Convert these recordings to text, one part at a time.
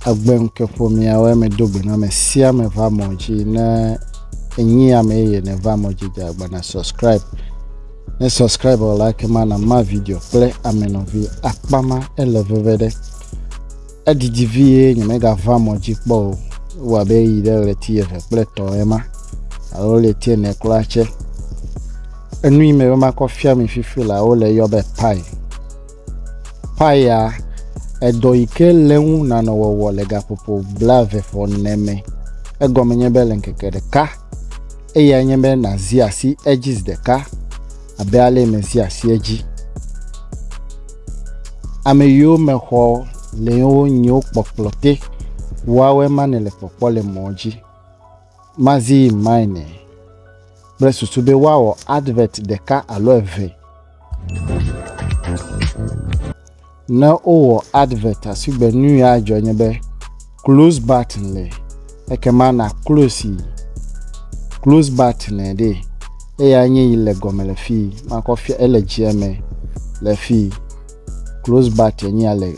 Egbeŋkeƒomeawo eme do gbe na ame sia ame va mɔ dzi ne enyi ame yeye ne va mɔ dzi dza gbe na subscribe ne subscribe o like ma na ma video kple ame nɔvi akpa ma ele veve ɖe edidi vie nyemega va mɔ dzi kpɔ o wɔ abe yi ɖe ɣleti eve kple tɔ ema alo ɣleti ene kura tse enu yi me be makɔ fia mi fifi la wole yɔ be pai Paya, edɔ yi ke le eŋu nanɔ wɔwɔ le gaƒoƒo blaeve ƒe ene me. Egɔme nye be le ŋkeke ɖeka eyae nye be nàzi asi edzi zi ɖeka abe ale yi mezi asi edzi. Ame yiwo me xɔ le yewo nyiwo kpɔkplɔ te wɔawɔe ma nele kpɔkpɔ le mɔ dzi. Mazii Mine kple susu be woawɔ advert ɖeka alo eve. Ne wowɔ advert asigbe nu ya adzɔ nye be close button le ekema na close yi close button ɖe eya nye yi le gɔme le fi makɔ fia ele dzia me le fi close button nye ya le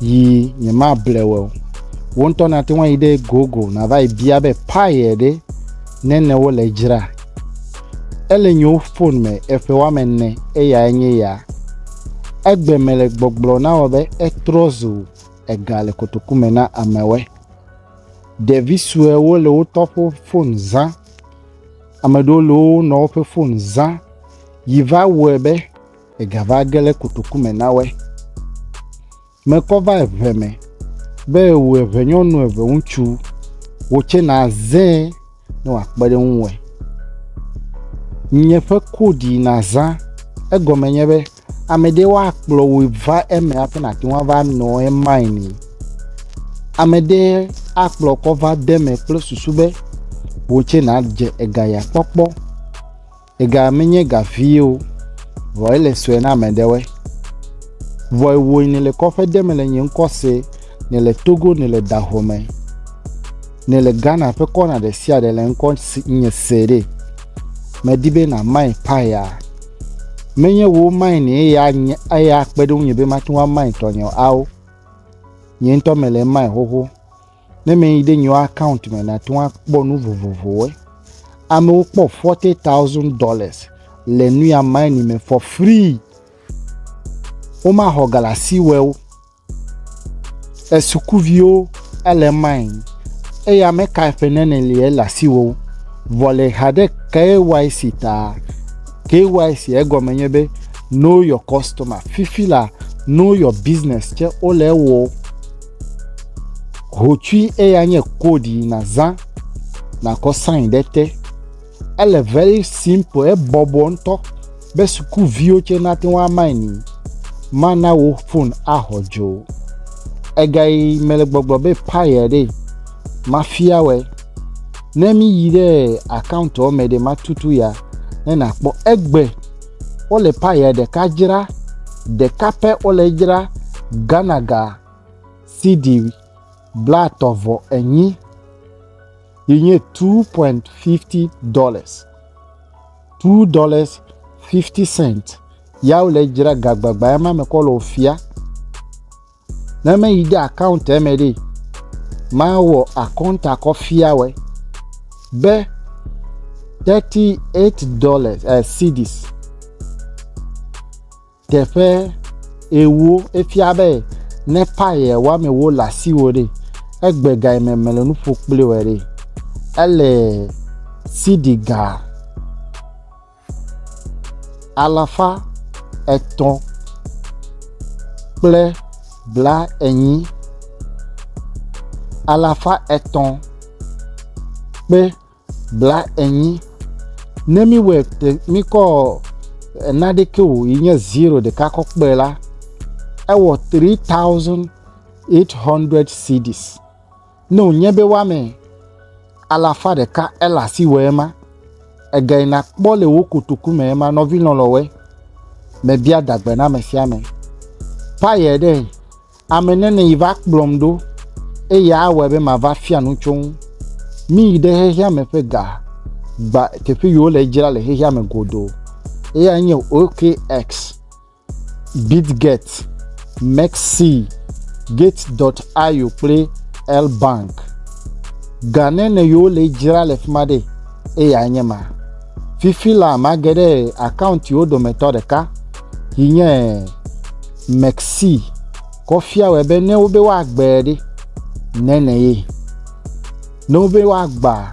yi nyemable wɔ o. Wo ŋutɔ nate ŋu ayi ɖe gogo nava yi bia be paye ɖe nene wole dzra. Ele nyewo fon me eƒe woame ene eya nye ya. Egbe mele gbɔgblɔ na wɔ be etrɔ zu ega le kotoku me na amewe. Ɖevi suewo le wotɔ ƒe fon zã. Ame ɖewo le wo nɔwo ƒe fon zã yi va wɔe be. Egava ge le kotoku me na woe. Mekɔ va eŋe me be wò eŋe nyɔnu eŋe ŋutsu wò tse na zẽ ne wòakpe ɖe ŋu wɔe. Nye ƒe kodi na zã egɔme nye be ame ɖe woakplɔ wò va eme hafi nàte ŋu ava nɔ emae ni. Ame ɖe akplɔ kɔ va de eme kple susu be wò tse nàdze ega ya kpɔkpɔ. Ega menye ga vie o, vɔ ele sue na ame ɖewe. Vɔ ewo ne le kɔƒe de me le nye ŋkɔ se, ne le Togo, ne le Dahome, ne le Ghana ƒe kɔna ɖe sia ɖe le ŋkɔ si nye se ɖe. Medi be na mai paya. Menye wo mai ne eya nye eya kpe ɖe ŋunye be mate ŋu amai tɔnye ao. Nye ŋutɔ mele mai xoxo. Ne me yi ɖe nyo account me na to akpɔ nu vovovowo. Amewo kpɔ forty thousand dollars le nu ya mine me for free. Woma xɔ galasi wɛwo. Esukuviwo ele mine. Eya me ka eƒe nene le ele asiwo. Vɔ le ha ɖe KYC ta. KYC egɔme nye be know your customer. Fifi la know your business tse wole ewɔ. Hotsui eya nye code yi nàzã nàkɔ sign ɖe te. Ele very simple, ebɔbɔ ŋutɔ be sukuviwo tsɛ nate ŋu amaini. Mana wò fon axɔ dzo. Ega yi mele gbɔgblɔ be paya ɖee, mafia wɛ. Ne míyi ɖe akawuntɔ me ɖe matutu ya ne nàkpɔ egbe. Wole paya ɖeka dzra, ɖeka pɛ wole edzra, Ghana ga cedi blatɔ̃ vɔ enyi yi nye two pɔint fifti dɔlas, two dɔlas fifti sɛnt ya wole edzra gagbagba ya ma me kɔ le wofia. Ne me yi de account me ɖi, ma wɔ akɔnta kɔ fia wɛ be thirty eight dollars eh, cedis teƒe ewo efia be ne paye wame wo le asiwo ɖi egbe ga yi me mele nu ƒo kpli wɛ ɖi ele cedi ga. alafa etɔ̃ kple bla enyi alafa etɔ̃ kpe bla enyi ne mi wɔɛ te mikɔ naɖɛ ke o yi nye zero ɖeka kɔ kpe la ewɔ tri taosen ɛt hɔndrɛd sidis. Ne wònye be woame alafa ɖeka ele asi wɔ ema, ègae nàkpɔ le wò kotoku me ema nɔvi lɔlɔ̃woe. Mebia dagbe na ame sia ame. Paye ɖe ame nene yi va kplɔm ɖo eye awɔe be mava fia nu tso ŋu. Míyi ɖe xexea me ƒe ga gba teƒe yi wole dzra le xexea me godoo. Eyae nye OKX. Bitget, Mexc, Gate.io kple Elbank. Ga ne ne yewo le dzra le fi ma ɖe, eya nye ma. Fifi la mage ɖe akauntiwo dometɔ ɖeka, yi nye Mexc, kɔfia wɔ be ne wobe woagbe ɖe, ne ne ye. Ne wobe woagba,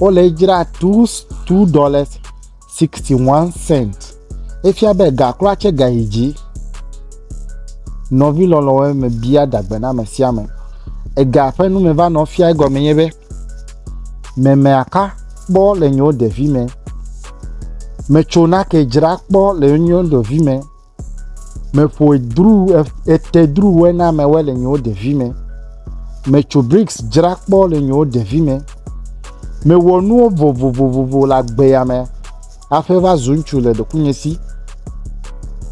Wole edzra two two dollars sixty one cent. Efia be ga kura tse ga yi dzi. Nɔvi lɔlɔ̃wo eme bia dagbe na ame sia ame. Ega ƒe nu me va nɔ fia egɔme nye be memea ka kpɔ le nye ɖevi me. Metso nake dzra kpɔ le nye ɖevi me. Meƒoe dru etedruwoe na amewo le nyewo ɖevi me. Metso briks dzra kpɔ le nyewo ɖevi me. Mewɔ nuwo vovovovo le agbe ya me hafi va zu ŋutsu le ɖokuinye si.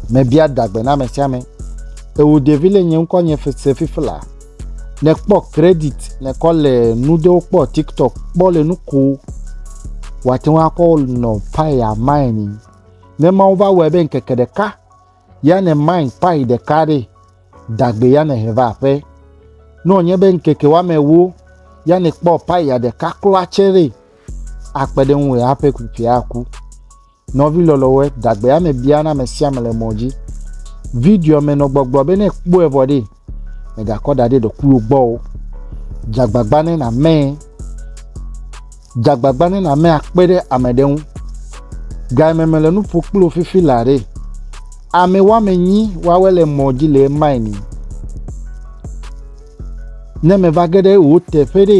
Mebia dagbe na ame sia ame. Ewu ɖevi le nye ŋkɔ nye sefifla. Nekpɔ kredit nekɔ le nu ɖewo kpɔ tiktok kpɔ le nu kom. Wate ŋu akɔ nɔ paya mine. Ne Mawu va wɔe be ŋkeke ɖeka ya ne main pai ɖeka ɖe dagbe ya ne he va aƒe. Ne wònye be ŋkeke woame ewo ya ne kpɔ pai ya ɖeka klo atsɛ ɖe akpe ɖe ŋu eƒe kpikpia aku. Nɔvi lɔlɔwɔe dagbe ya me biana ame sia ame le mɔ dzi. Video me nɔ gbɔgblɔ be ne kpɔe vɔ ɖe Mègakɔ da ɖe ɖokuiwò gbɔ o. Dze agbagba ne nàmee. Dze agbagba ne nàmee akpe ɖe ame ɖe ŋu. Game mele nu ƒo kple wò fifi laa ɖe. Ame woame nyi woawe le mɔ dzi le emae ni. Ne meva ge ɖe wò teƒe ɖe.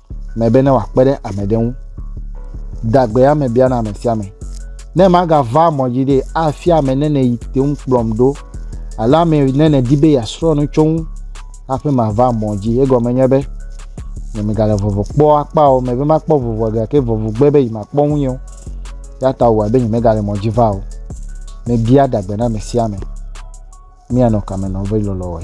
me be ne wòakpe ɖe ame ɖe ŋu. Dagbe ame bia na ame sia ame. Ne magava mɔ dzi ɖe afia ame ne ne yi te ŋu kplɔm ɖo alo ame ne ne di be yeasrɔ̃ nu tso ŋu hafi mava mɔ dzi. Egɔme nye be ne megale vovo kpɔ akpa o, me be makpɔ vovo gake vovo gbe be yi makpɔ ŋu o. Ya ta wòwa be nye megale mɔ dzi va o. Mebia dagbe na ame sia ame. míanɔ kame nɔ be lɔlɔ wɔe.